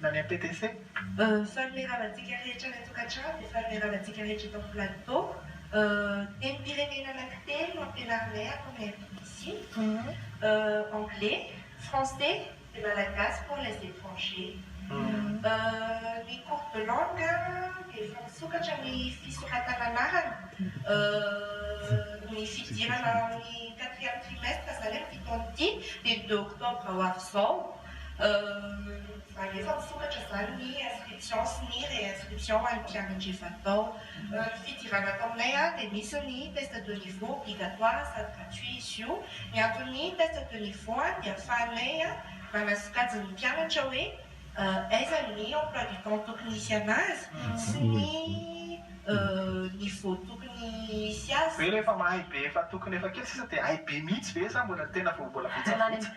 na ny APTC. Fanomeramantsika rehetra any an-tokantrano dia fanomeramantsika rehetra eto amin'ny plateau. Tenim-pirenena anankitelo no ampianarinay ato amin'ny APTC, Anglais, Français et Malagasy pour les étrangers. Ny cours de langue dia efa misokatra ny fisoratana anarana, ny fidirana amin'ny quatrième trimestre izany amin'ity taona ity dia ny deux octobre ho avy izao. Euh alefa misokatra zany ny inscription sy ny réinscription ho an'ny mpianatra efa tao. Euh ny fidirana ato aminay an dia misy ny test de niveau obligatoire sady gratuit izy io. Ny anton'ny test de niveau an dia afahanay manasokajy ny mpianatra hoe euh aiza ny emploi du temps tokony hisy anazy sy ny euh niveau tokony hisy azy. Ve rehefa mahay be efa tokony efa kely sisa dia hay be mihitsy ve sa mbola tena vao mbola betsabetsa?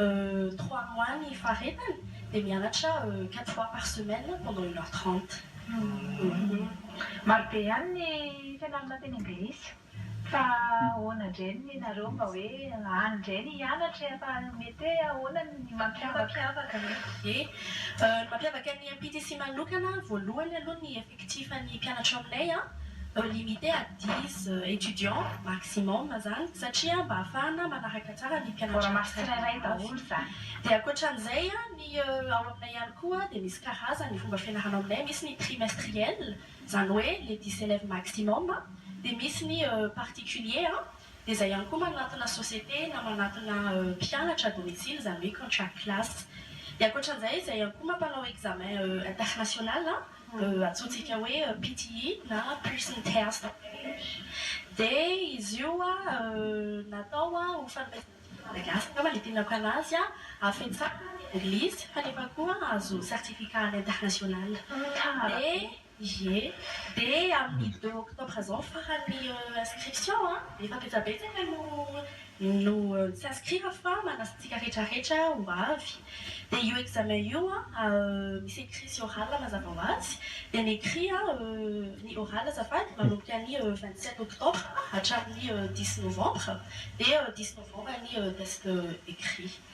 Euh trois mois ny faharetany dia mianatra euh quatre fois par semaine pendant une heure trente. Marobe ihany ny fianarana teny anglisy fa ahoana indray ny nenareo mba hoe any indray ny hianatra e fa mety hoe ahoana ny mampiavaka? Mampiavaka ny MPTC manokana voalohany aloha ny effectifs. Tsy fa ny mpianatra ao aminay an, limite à dix étudiants maximum izany satria mba ahafahana manaraka tsara ny mpianatra. Mbola mahazo tsirairay daholo izany. Dia ankoatran'izay an, ny ao aminay ihany koa dia misy karazany ny fomba fianarana ao aminay, misy ny trimestriel, izany hoe le dix élèves maximum, dia misy ny particulier an, dia izay ihany koa manantona société na manantona mpianatra à domicile izany hoe contract class. Dia ankoatran'izay, izay ihany koa mampanao examen international an, antsointsika hoe PTE na Person Test dia izy io natao ho fanomezana malagasy angamba ny itinerako anazy an, afentsana ny anglisy kanefa koa ahazoana certificat any international ie dia amin'ny deux octobre izao farany inscription an, efa betsabetsaka no. no tsy azo kira fa manasitsika rehetra rehetra ho avy dia io examen io misy écrit sy oral mazava ho azy dia ny écrit ny oral azafady manomboka ny vingt sept octobre hatramin'ny dix novembre dia dix novembre ny test écrit.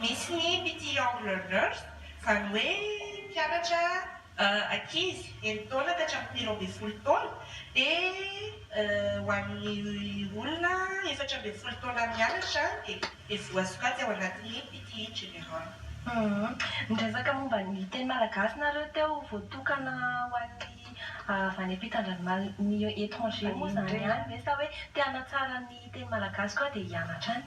Misy ny Pity Young Learners, izany hoe mpianatra ankizy enina taona ka hatramin'ny telo ambin'ny folo taona, dia ho an'ny olona efatra ambin'ny folo taona mianatra dia voasokajy ao anatin'ny Pity General. Niresaka momba ny teny malagasy nareo teo, voatokana ho an'ny avy any ampitan-dranomasina, ny étranger moa izany ihany ve sa hoe te hanatsara ny teny malagasy koa dia hianatra any?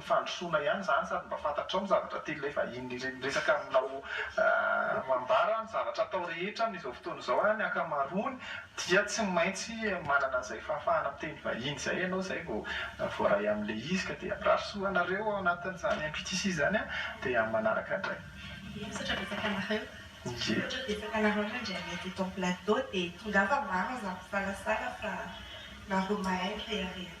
fandrosoana ihany izany sady mba fantatrao ny zavatra tian'ny ilay vahiny re miresaka aminao aah ambara ny zavatra atao rehetra amin'izao fotoana izao aah ny ankamaroany dia tsy maintsy manana an'izay fahafahana miteny vahiny izay ianao izay vao voaray amin'ilay izy ka dia mirary soa anareo ao anatin'izany MPTC izany aho dia amin'ny manaraka indray. Misaotra betsaka anareo. Ie. Misaotra betsaka anareo no indray mety eto amin'ny plateau dia tongava maro aza misalasala fa nareo mahay mirehareha.